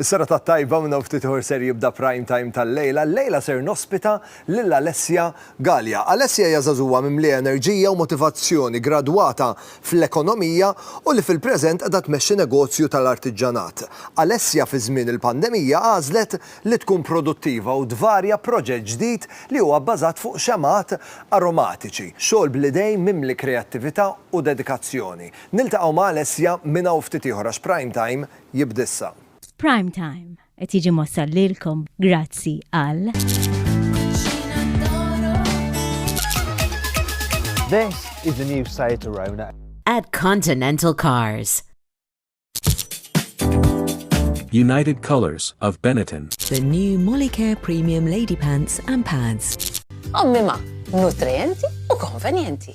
Is-serata t-tajba minn hawn ftit ieħor ser jibda Prime Time tal-lejla. Llejla ser nospita lil Alessia Galea. Alessia hija żagħżugħa mimlija enerġija u motivazzjoni, gradwata fl-ekonomija u li fil-preżent qiegħda tmexxi negozju tal-artiġġanat. Alessia fi żmien il-pandemija għażlet li tkun produttiva u tvarja proġett ġdid li huwa bbażat fuq xemgħat aromatiċi. Xogħol bl-idejn mimli kreattività u dedikazzjoni. Niltaqgħu ma' Alessia minn hawn ftit ieħor għax Prime Time jibda issa. Prime Time qed jiġi mwassal lilkom grazzi għal. This is the new Seat Arona. At Continental Cars. United Colors of Benetton. The new Molicare Premium Lady Pants and Pads. Ommima, nutrienti u konvenienti.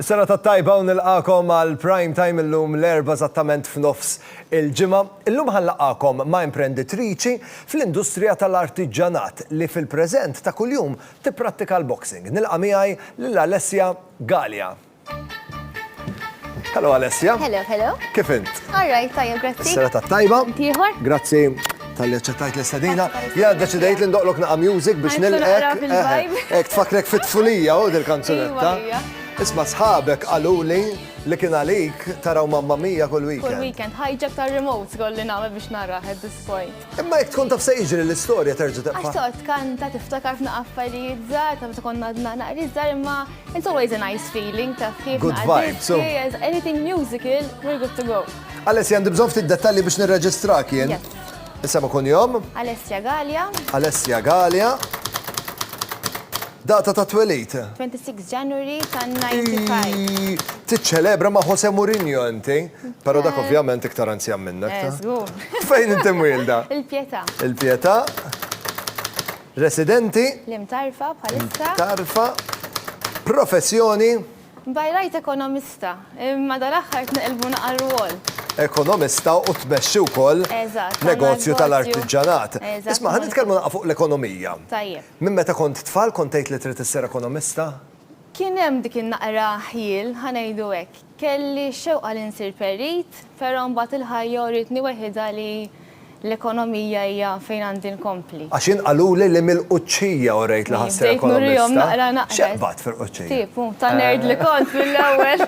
Serata t-tajba u nilqagħkom għal Prime Time illum l-Erbgħa eżattament f'nofs il-ġimgħa. Illum ħa nlaqqagħkom ma' imprenditriċi fl-industrija tal-artiġġanat li fil-preżent ta' kuljum tipprattika l-boxing. Nilqa' miegħi lil Alessia Galea. Hello Alessia. Hello, hello. Kif int? All right, tajjeb grazzi. Is-serata t-tajba. Int ieħor. Grazzi. Talli ċettajt l-istadina, jgħad deċidejt li ndoqlok naqa music biex nilqek. Ek tfakrek fit-tfulija u dil-kanzunetta. Iva, Isma sħabek għaluli li kien għalik taraw mamma mija kull weekend. Kull weekend, ħajġek tar remote kolli nagħmel biex naraħ at this point. Imma jek tkun taf se jiġri l-istorja terġa' tibqa'. Għax toqgħod kanta tiftakar f'na affarijiet żgħar, ta' meta konna għadna naqri żgħar imma it's always a nice feeling ta' kif. Good vibes. Anything musical, we're good to go. Alessia, għandi bżonn ftit dettalji biex nirreġistrak jien. Isem u kunjom? Alessia Gallia. Alessia Gallia. Data ta' twelid? 26 January ta' 95. Tiċċelebra ma' Jose Mourinho inti, pero dak eh. ovvjament iktar anzjan minnek. Eh, Fejn inti mwilda? Il-Pietà. Il-Pietà. Residenti? L-imtarfa bħalissa. Tarfa. Professjoni? By right ekonomista, imma dal-aħħar tneqilbu naqa' r-rwol. Ekonomista u tmexxi wkoll negozju tal-artiġġanat. Isma' ħa nitkellmu naqa' fuq l-ekonomija. Tajjeb. Minn meta kont tfal kont tgħid li trid issir ekonomista? Kien hemm dik in-naqra ħjiel, ħa ngħidu hekk. Kelli x-xewqa li nsir perit. Però mbagħad il-ħajja uritni weħidha li l-ekonomija hija fejn għandi nkompli. Għax jien qaluli li mill-Quċċija u rejt li ħassir ekonomista. X'eqbad fil-Quċċija? Tip, hu, ta' nerd li kont mill-ewwel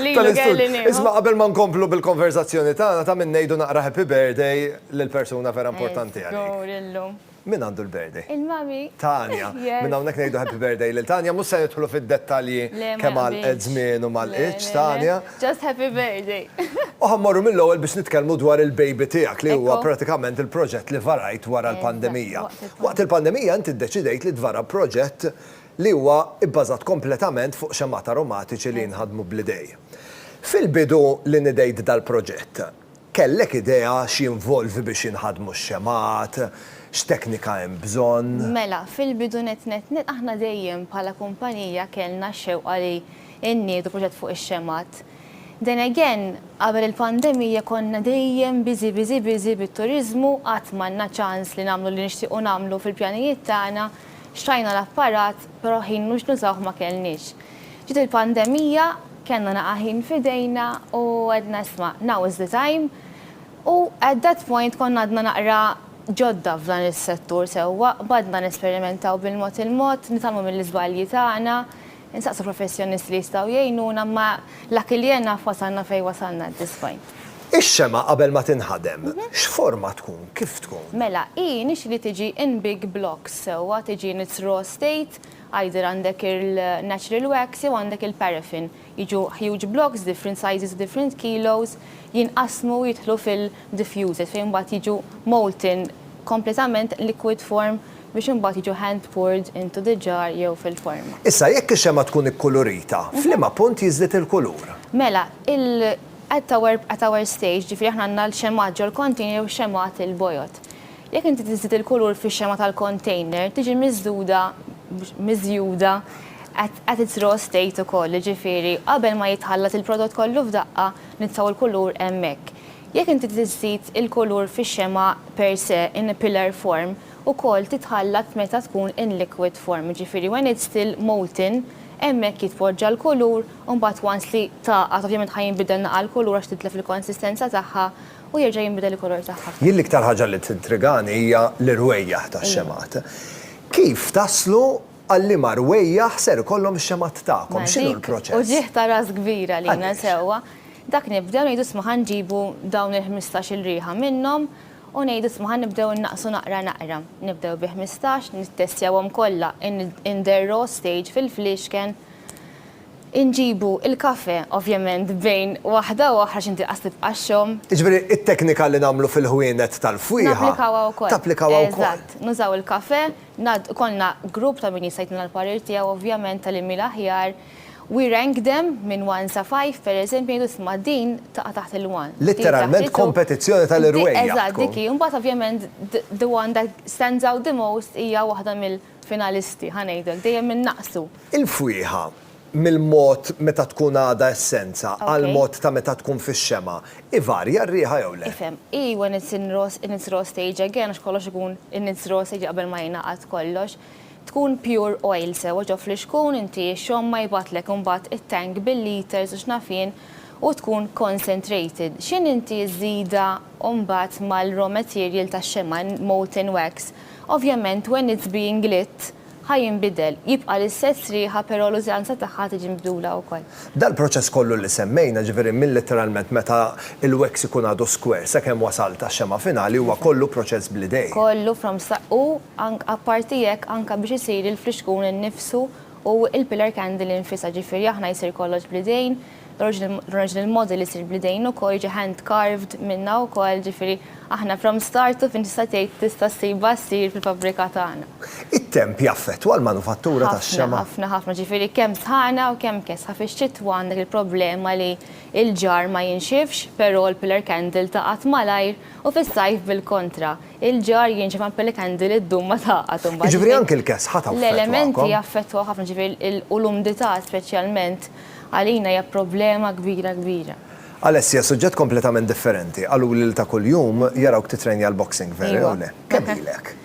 li ilu kelli nieħu. Isma' qabel ma nkomplu bil-konverżazzjoni tagħna ta' min ngħidu naqra Happy Birthday lill-persuna vera importanti għalik. Żgur illum. Min għandu l-birthday? Il-mommy. Tania. Minn hawnhekk ngħidu happy birthday lil Tania. Mhux se nidħlu fid-dettalji kemm għalqet żmien u ma lqitx Tania. Just happy birthday. U ħa mmorru mill-ewwel biex nitkellmu dwar il-baby tiegħek li huwa pratikament il-proġett li varajt wara l-pandemija. Waqt il-pandemija inti ddeċidejt li tvara proġett li huwa bbażat kompletament fuq xemgħat aromatiċi li jinħadmu bl-idejn. Fil-bidu li nidejt dal-proġett, Kellek idea x'jinvolvi biex jinħadmu x-xemgħat? X'teknika hemm bżonn? Mela, fil-bidu nett nett nett aħna dejjem bħala kumpanija kellna x-xewqa li nniedu proġett fuq ix-xemgħat. Then again, qabel il-pandemija konna dejjem busy busy busy bit-turiżmu, qatt m'għandna ċans li nagħmlu li nixtiequ nagħmlu fil-pjanijiet tagħna, xtrajna l-apparat però ħin mhux nużawh ma kellniex. Ġiet il-pandemija, kellna naqa' ħin f'idejna u għedna isma', now is the time. U at that point konna għadna naqra ġodda f'dan is-settur sewwa, qbadna nesperimentaw bil-mod il-mod, nitgħallmu mill-iżbalji tagħna, insaqsu professjonisti li jistgħu jgħinuna, imma la kiljen naf wasalna fejn wasalna at this point. Ix-xemgħa qabel ma tinħadem, x'forma tkun, kif tkun? Mela, hi nixri li tiġi in big blocks sewwa, tiġi in its raw state, Either għandek il-natural wax jew għandek il-paraffin. Jiġu huge blocks, different sizes u different kilos, jinqasmu u jidħlu fil-diffuser fejn mbagħad jiġu molten kompletament liquid form biex imbagħad jiġu hand poured into the jar jew fil-forma. Issa, jekk ix-xemgħa tkun ikkulurita, f'liema punt jiżdied il-kulur? Mela, at our stage, jiġifieri aħna għandna l-xemgħat ġol-container jew xemgħat il-bojod. Jekk inti tiżżid il-kulur fix-xema tal-kontejner, tiġi miżżuda, miżjuda, at its raw state ukoll, jiġifieri qabel ma jitħallat il-prodott kollu f'daqqa, nitfgħu l-kulur hemmhekk. Jekk inti tiżżid il-kulur fix-xema per se, in a pillar form, ukoll titħallat meta tkun in liquid form, jiġifieri when it's still molten, hemmhekk jitpoġġa l-kulur, u mbagħad once li tagħqad, ovvjament ħa jinbidel naqra l-kulur għax titlef il-konsistenza tagħha, u jerġa' jinbidel il-kulur tagħha. Jien l-iktar ħaġa li tintrigani hija l-irwejjaħ tax-xemgħat. Kif taslu għal liema rwejjaħ ser ikollhom ix-xemgħat tagħkom? X'inhu l-proċess? Mela dik uġigħ ta' ras kbira lilna sewwa. Dak nibdew ngħidu isma' ħa nġibu dawn il-ħmistax il riħa minnhom u ngħidu isma' ħa nibdew innaqqsu naqra naqra. Nibdew bi ħmistax, nittestjawhom kollha in der raw stage fil-fliexken. Inġibu l-kafè, ovvjament, bejn waħda u oħra x'inti qas tibqa' xxomm. Jiġifieri t-teknika li nagħmlu fil-ħwienet tal-fwieħa. Napplikawha wkoll. Tapplikawha wkoll. Eżatt. Nużaw il-kafè, ngħaddu, ikollna grupp ta' min jista' jtina l-parir tiegħu ovvjament ta' liemhi l-aħjar. We rank them minn one sa five, pereżempju, ngħidu isma' din taqa' taħt il-one. Litteralment kompetizzjoni tal-irwejjaħ tkun. Eżatt, dik hi. U mbagħad ovvjament the one that stands out the most hija waħda mill. finalisti, ħa ngħidlek, dejjem innaqsu. Il-fwieħa, mill-mod meta tkun għadha essenza għall-mod ta' meta tkun fix-xemgħa, ivarja r-riħa jew le? Ifhem, hi when it's in raw, in its raw stage again, għax kollox ikun in its raw stage qabel ma jingħaqad kollox, tkun pure oil sewwa ġo flixkun, inti x-xomma jibgħatlek imbagħad it-tank bil-liters u x'naf jien u tkun concentrated. X'inhi inti ż-żida imbagħad mal-raw material tax-xemgħa, molten wax, Ovvjament when it's being lit ħa jinbidel, jibqa' l-istess riħa però l-użanza tagħha ħa tiġi mibdula wkoll. Dal-proċess kollu li semmejna, ġifieri minn litteralment meta il-wax ikun għadu square sakemm wasalt għax-xemgħa finali huwa kollu proċess bl-idejn. Kollu from start u apparti hekk anke biex isir il-flixkun innifsu u l-pillar candle infisha, ġifieri aħna jsir kollox bl-idejn, l-original model isir bl-idejn ukoll jiġi hand carved minna wkoll, ġifieri aħna from start to finish tista' tgħid tista' ssibha ssir fil-fabbrika tagħna. It-temp jaffettwa l-manufattura tax-xemgħa? Ħafna, ħafna, ġifieri kemm sħana u kemm kesħa. Fix-xitwa għandek il-problema li l-ġarr ma jinxifx, però l-pillar candle tagħqad malajr u fis-sajf bil-kontra. Il-ġarr jinxef ma l-pillar candle iddum ma tagħqad imbagħad. Jiġifieri anke l-kesħa taffettwakom? L-elementi jaffettwaw ħafna, ġifieri u l-umdità speċjalment. Għalina hija problema kbira kbira. Alessia, Suġġett kompletament differenti. Qaluli li ta' kuljum jarawk tittrejnja l-boxing, veru jew le? Kemm ilek?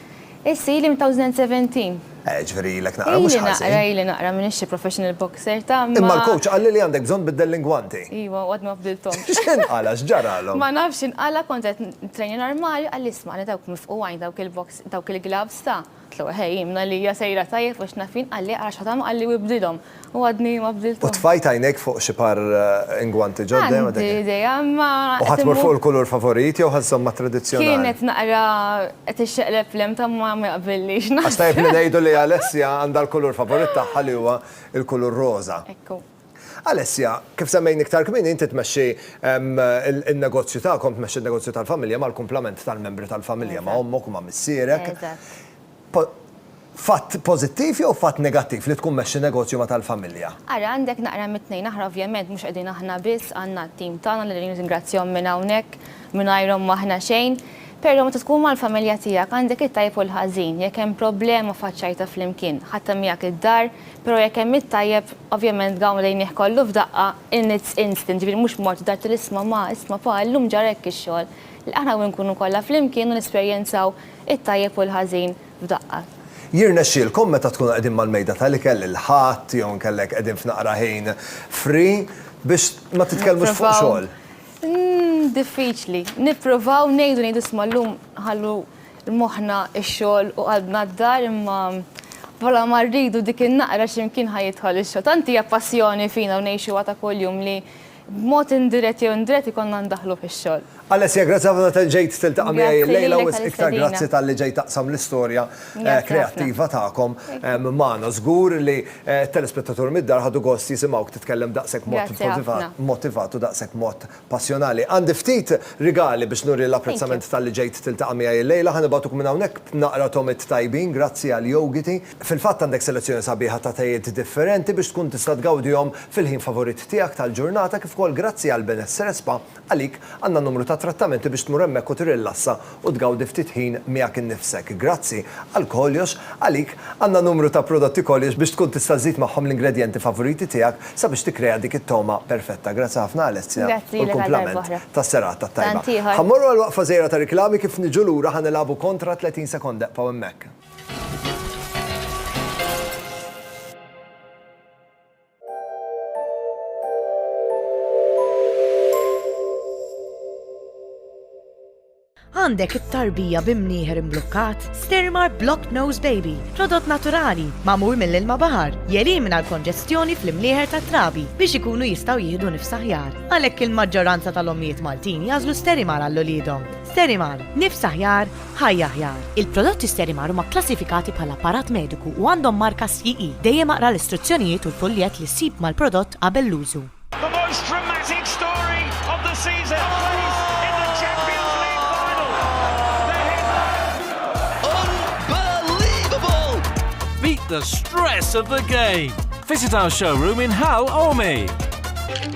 Issa ili minn 2017. Eh, ġifieri ilek naqra mhux ħażin. Ili naqra, ili naqra, m'iniex xi professional boxer, ta' imma. Imma l-coach qalli li għandek bżonn tbiddel l-ingwanti. Iva, u għadni ma bdilthomx. X'inqala', x'ġaralhom? Ma nafx x'inqala', kont qed nittrejnja normali, qalli isma' għandna dawk mifquwajn dawk il-box, dawk il-gloves ta'. Tlu, Ħej, jimna li hija sejra tajjeb għax naf jien qalli ara x'ħatamel qalli u ibdilhom. U għadni ma bdilthomx. U tfajt għajnejk fuq xi par ingwanti ġodda jew għadek. Għandi idea imma. U ħa tmur fuq il-kulur favorit jew ħa żżomm mat-tradizzjonali? Kien qed naqra qed ixxeqleb l-hemm ta' ma jaqbillix naqra. Għax tajjeb li ngħidu li Alessia għandha l-kulur favorit tagħha li huwa l-kulur roża. Ekku. Alessia, kif semmejni iktar kmieni, inti tmexxi n-negozju tagħkom, tmexxi n-negozju tal-familja mal-kumplament tal-membri tal-familja, ma' ommok u ma' missierek. Fatt pożittiv jew fatt negattiv li tkun tmexxi negozju ma' tal-familja? Ara, għandek naqra mit-tnejn. Aħna ovvjament mhux qegħdin aħna biss, għandna t-tim tagħna li nirringrazzjahom minn hawnhekk, mingħajrhom m'aħna xejn. Però meta tkun mal-familja tiegħek għandek it-tajjeb u l-ħażin, jekk hemm problema faċċajtha flimkien, ħadtha miegħek id-dar, però jekk hemm it-tajjeb, ovvjament gawm lejnih kollu f'daqqa in its instant, ġifieri mhux mort dar tgħidlu isma' ma, isma' pa, illum ġara hekk ix-xogħol. Le aħna hawn inkunu kollha flimkien u nesperjenzaw it-tajjeb u l-ħażin f'daqqa. Jirnexxielkom meta tkunu qegħdin mal-mejda tal-ikel il-Ħadd jew inkella jekk qegħdin f'naqra ħin free biex ma titkellmux fuq xogħol? Diffiċli. Nippruvaw ngħidu ngħidu isma' llum ħallu moħħna x-xogħol u qalbna d-dar imma bħala ma rridu dik in-naqra x'imkien ħa jidħol ix-xogħol. Tant hija passjoni fina u ngħixuha ta' kuljum li b'mod indirett jew indirett ikollna ndaħħlu fix-xogħol. Alessia, grazzi ħafna tal-li ġejt tiltaqa' miegħi llejla u wisq iktar grazzi talli ġejt taqsam l-istorja kreattiva tagħkom magħna. Żgur li Telespettatur mid-dar ħadu gost jisimgħuk titkellem daqshekk mod motivat u daqshekk mod passjonali. Għandi ftit rigali biex nuri l-apprezzament talli ġejt tiltaqa' miegħi llejla. Ħa nibgħatuk minn hawnhekk naqra tomit tajbin grazzi għal jogiti. Fil-fatt għandek selezzjoni sabiħa ta' tejiet differenti biex tkun tista' tgawdihom fil-ħin favorit tiegħek tal-ġurnata kif ukoll grazzi għall-Benessere Spa Għalik, għandna numru ta' trattamenti biex tmur hemmhekk u tirrilassa u tgawdi ftit ħin miegħek innifsek. Grazzi, għalkoljox, għalik, għandna numru ta' prodotti koljox biex tkun tista' żżid magħhom l-ingredjenti favoriti tiegħek sabiex tikkrea dik it-togħma perfetta. Grazzi ħafna Alessia u l-kumplament tas-serata t-tajba. Ħa mmorru għal waqfa żgħira ta' riklami kif niġu lura ħa nilagħbu kontra 30 sekonda ebqgħu hemmhekk. Għandek it-tarbija bi mnieħer imblukkat? Stirmar Blocked Nose Baby, prodott naturali, magħmul mill-ilma baħar, jelimina l-konġestjoni fl-imnieħer tat-trabi biex ikunu jistgħu jieħdu nifs aħjar. Għalhekk il-maġġoranza tal-ommijiet Maltin jagħżlu Sterimar għal uliedhom. Sterimar, nifs aħjar, Ħajja Aħjar, Il-prodotti Sterimar huma kklassifikati bħala apparat mediku u għandhom marka CE. Dejjem aqra l-istruzzjonijiet u l-fuljett li ssib mal-prodott qabel l-użu. The most dramatic story of the season plays in the Champions League final. The headlines. Unbelievable! Beat the stress of the game. Visit our showroom in Hal Ormi.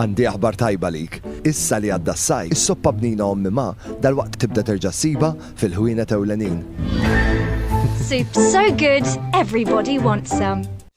Għandi aħbar tajba lik. Issa li għadda s-saj, is-soppa bnina ommi ma, dal-waqt tibda terġa' siba fil-ħwienet ewlenin. Soup so good, everybody wants some.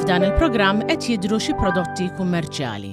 F'dan il-programm qed jidhru xi prodotti kummerċjali.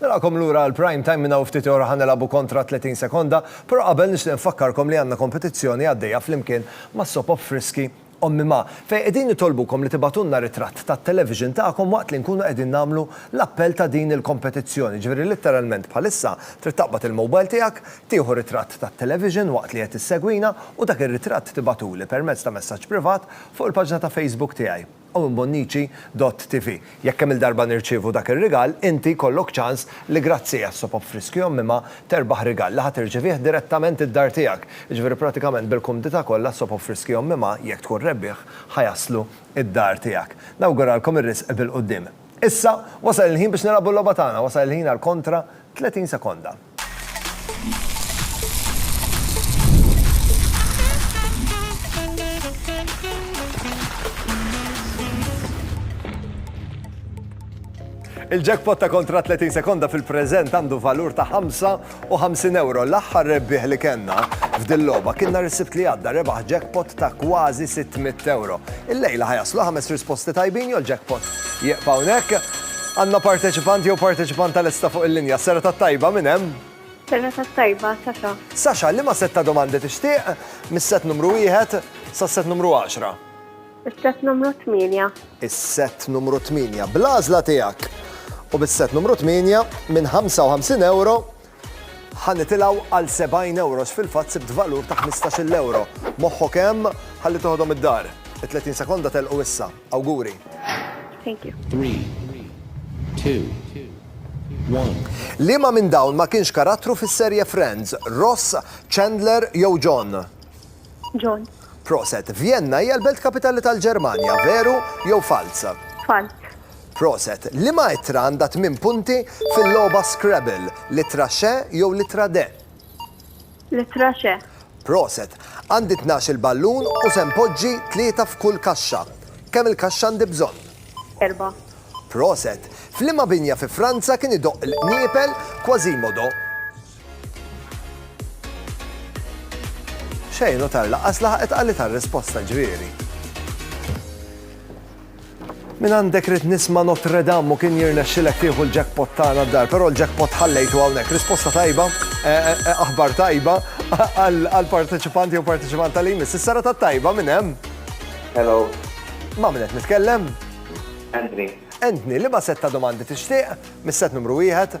Narakom lura għal prime time minna ftit ora ħanelabu kontra 30 sekonda, pero qabel nixtieq nfakkarkom li għandna kompetizzjoni għaddejja flimkien ma' Sopop Friski Ommi Ma, fejn qegħdin nitolbukom li tibagħtulna ritratt tat-television tagħkom waqt li nkunu qegħdin nagħmlu l-appell ta' din il-kompetizzjoni. Jiġifieri litteralment bħalissa trid taqbad il-mobile tiegħek, tieħu ritratt tat-television waqt li qed issegwina u dak ir-ritratt tibagħtuli permezz ta' messaġġ privat fuq il-paġna ta' Facebook tiegħi, Owenbonnici dott TV. Jekk kemm-il darba nirċievu dak ir-rigal, inti jkollok ċans li grazzi għas-Soap Up Friskju Għommimha terbaħ rigal li ħa tirċevih direttament id-dar tiegħek. Jiġifieri pratikament bil-kumdità kollha Soap Up Friskju Għommimha, jekk tkun rebbieħ, ħa jaslu id-dar tiegħek. Nawguralkom ir-riżq bil-quddiem. Issa, wasal il-ħin biex nilagħbu l-logħba tagħna, wasal il-ħin għal kontra 30 sekonda. Il-jackpot ta' kontra 30 sekonda fil-preżent għandu valur ta' 55 euro. L-aħħar rebbieħ li kellna f'dil logħba kien nhar is-sibt li għadda rebaħ jackpot ta' kważi 600 euro. Il-lejla ħajaslu ħames risposti tajbin jew jackpot Jieqfa hawnhekk. Għandna parteċipant jew parteċipanta lesta fuq il-linja. Sera tat-tajba, min hemm? Sera tat-tajba, Sasha. Sasha, liema sett ta' domandi tixtieq? Mis-sett numru wieħed sas-sett numru għaxra? Is-sett numru tmienja. Is-sett numru tmienja. Bl-għażla tiegħek u bis-sett numru tmienja, minn 55 ewro, Ħa nitilgħu għal 70 ewro x'fil-fatt sibt valur ta' ħmistax-il ewro. Moħħok hemm, ħalli toħodhom id-dar. It-30 sekonda telqu issa. Awguri! Thank you. Three, two, one. Liema minn dawn ma kienx karattru fis-serje Friends? Ross, Chandler jew John? John. Proset. Vjenna hija l-belt kapitali tal-Ġermanja, veru jew falz? Falz. Proset! Liema ittra għandha tmien punti fil-logħba Scrabble, l-ittra Xe jew l-ittra De? L-ittra Xe. Proset! Għandi tnax-il ballun u se npoġġi tlieta f'kull kaxxa. Kemm il-kaxxa għandi bżonn? Erbgħa. Proset! F'liema binja fi Franza kien idoqq il-qniepel Quasimodo? Xejn u tar laqqas laħqet qalli tar risposta ġrieri. Min għandek rid nisma Notre Dame u kien jirnexxilek tieħu l-jackpot tagħna d-dar, però l-jackpot ħallejtu hawnhekk. Risposta tajba, eh, eh, eh, aħbar tajba għal parteċipanti u parteċipant tal-imis. Is-sara ta' tajba minn hemm. Hello. Ma' minn qed nitkellem? Anthony. Anthony, li ma' setta domandi tixtieq, mis-set numru wieħed,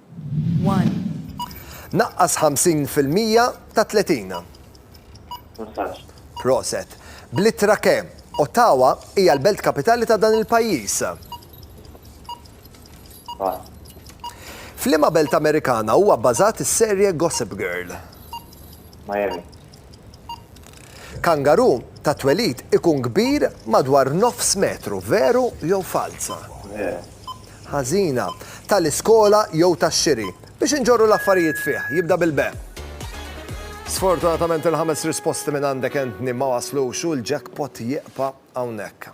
1. Naqqas 50 fil-mija ta' 30. Massaġġ. Proset. Bl-ittra ke, Ottawa hija l-belt kapitali ta' dan il-pajjiż? Pass. F'liema belt Amerikana huwa bbażat is-serje Gossip Girl? Miami. Kangaru ta' twelid ikun kbir madwar nofs metru, veru jew falz? Veru. ħażina, tal-iskola jew tax-xiri, biex inġorru l-affarijiet fih, jibda bil-be. Sfortunatament il-ħames risposti minn għandek Anthony ma waslux u l-jackpot jieqpa' hawnhekk.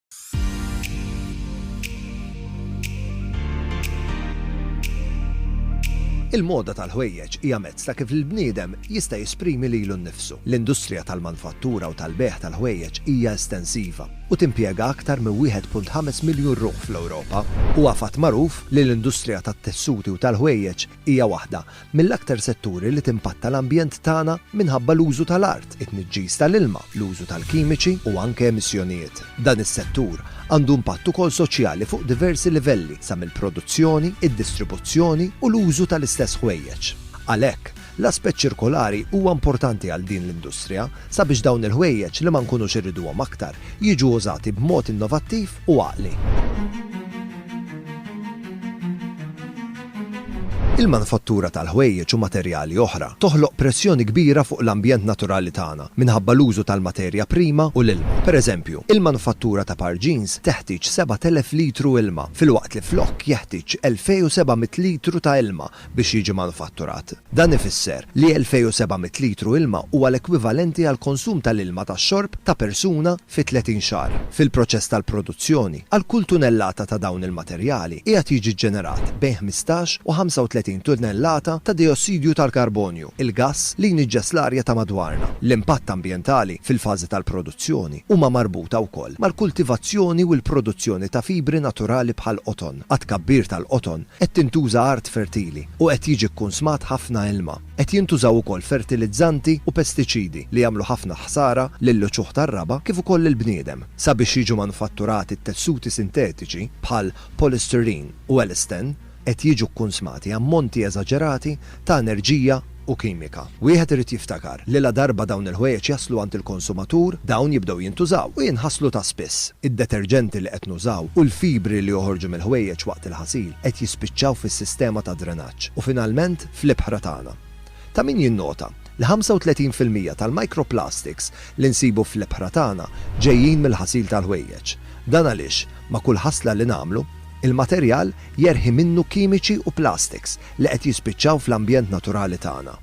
Il-moda tal-ħwejjeġ hija mezz ta' kif l-bniedem jista' jesprimi lilu nnifsu. L-industrija tal-manfattura u tal-bejgħ tal-ħwejjeġ hija estensiva u timpjega aktar minn 1.5 miljun ruħ fl-Ewropa. Huwa fatt magħruf li l-industrija tat-tessuti u tal-ħwejjeġ Hija waħda mill-aktar setturi li timpatta l-ambjent tagħna minħabba l-użu tal-art, it-tniġġis tal-ilma, l-użu tal-kimiċi u anke emissjonijiet. Dan is-settur għandu impatt ukoll soċjali fuq diversi livelli sa mill-produzzjoni, id-distribuzzjoni u l-użu tal-istess ħwejjeġ. Għalhekk, l-aspett ċirkolari huwa importanti għal din l-industrija sabiex dawn il-ħwejjeġ li ma nkunux irriduhom aktar jiġu użati b'mod innovattiv u għaqli. Il-manifattura tal-ħwejjeġ u materjali oħra toħloq pressjoni kbira fuq l-ambjent naturali tagħna minħabba l-użu tal-materja prima u l-ilma. Pereżempju, il-manifattura ta' par jeans teħtieġ 7,000 litru ilma, filwaqt li flokk jeħtieġ 2,700 litru ta' ilma biex jiġi manifatturat. Dan ifisser li 2,700 litru ilma huwa l-ekwivalenti għall-konsum tal-ilma tax-xorb ta' persuna fi 30 xahar. Fil-proċess tal-produzzjoni, għal kull tunellata ta' dawn il-materjali qiegħed jiġi ġġenerat bejn 15 u 35 tunellata ta' dejossidju tal-karbonju, il-gass li jniġġes l-arja ta' madwarna. L-impatt ambjentali fil-fażi tal-produzzjoni huma marbuta wkoll mal-kultivazzjoni u l-produzzjoni ta' fibri naturali bħall-qoton. Għat-tkabbir tal-qoton qed tintuża art fertili u qed jiġi kkunsmat ħafna ilma. Qed jintużaw ukoll fertilizzanti u pestiċidi li jagħmlu ħafna ħsara lill-uċuħ tar-raba' kif ukoll lill-bniedem. Sabiex jiġu manufatturati t-tessuti sintetiċi bħal polystyrene u elastan qed jiġu kkunsmati ammonti eżaġerati ta' enerġija u kimika. Wieħed irid jiftakar li ladarba dawn il-ħwejjeġ jaslu għand il-konsumatur, dawn jibdew jintużaw u jinħaslu ta' spiss. Id-deterġenti li qed nużaw u l-fibri li joħorġu mill-ħwejjeġ waqt il-ħasil qed jispiċċaw fis-sistema ta' drenaġġ u finalment, fl-ibħra tagħna. Ta' min jinnota li 35 fil-mija tal-microplastics li nsibu fl-ibħra tagħna ġejjin mill-ħasil tal-ħwejjeġ. Dan għaliex ma' kull ħasla li nagħmlu, il-materjal jerħi minnu kimiċi u plastics li qed jispiċċaw fl-ambjent naturali tagħna.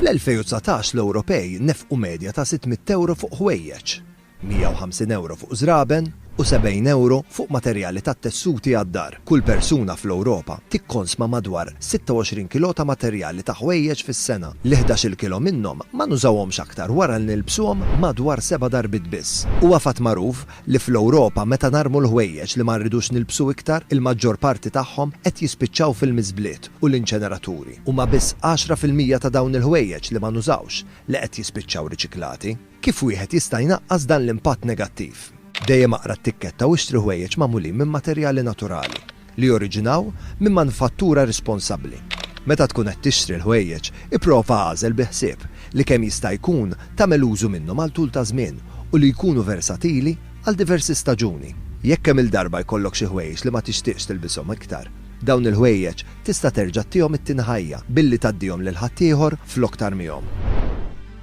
Fl-2019 l-Ewropej nefqu medja ta' 600 ewro fuq ħwejjeġ. 150 € fuq żraben u 70 € fuq materjali tat-tessuti għad-dar. Kull persuna fl-Ewropa tikkonsma madwar 26 kilo ta' materjali ta' ħwejjeġ fis-sena, li ħdax-il kilo minnhom ma nużawhomx aktar wara li nilbsuhom madwar seba' darbiet biss. Huwa fatt magħruf li fl-Ewropa meta narmu l-ħwejjeġ li ma rridux nilbsu iktar, il-maġġor parti tagħhom qed jispiċċaw fil-miżbliet u l-inċeneraturi. Huma biss għaxra fil-mija ta' dawn il-ħwejjeġ li ma nużawx li qed jispiċċaw riċiklati. Kif wieħed jista' jnaqqas dan l-impatt negattiv? Dejjem aqra t-tikketta u ixtri ħwejjeġ magħmulin minn materjali naturali, li joriġinaw minn manifattura responsabbli. Meta tkun qed tixtri l-ħwejjeġ, ipprova agħżel bi ħsieb li kemm jista' jkun tagħmel użu minnhom għal tul ta' żmien u li jkunu versatili għal diversi staġuni. Jekk kemm-il darba jkollok xi ħwejjeġ li ma tixtieqx tilbishom iktar, dawn il-ħwejjeġ tista' terġa' tihom it-tieni ħajja billi tgħaddihom lil ħaddieħor flok tarmihom.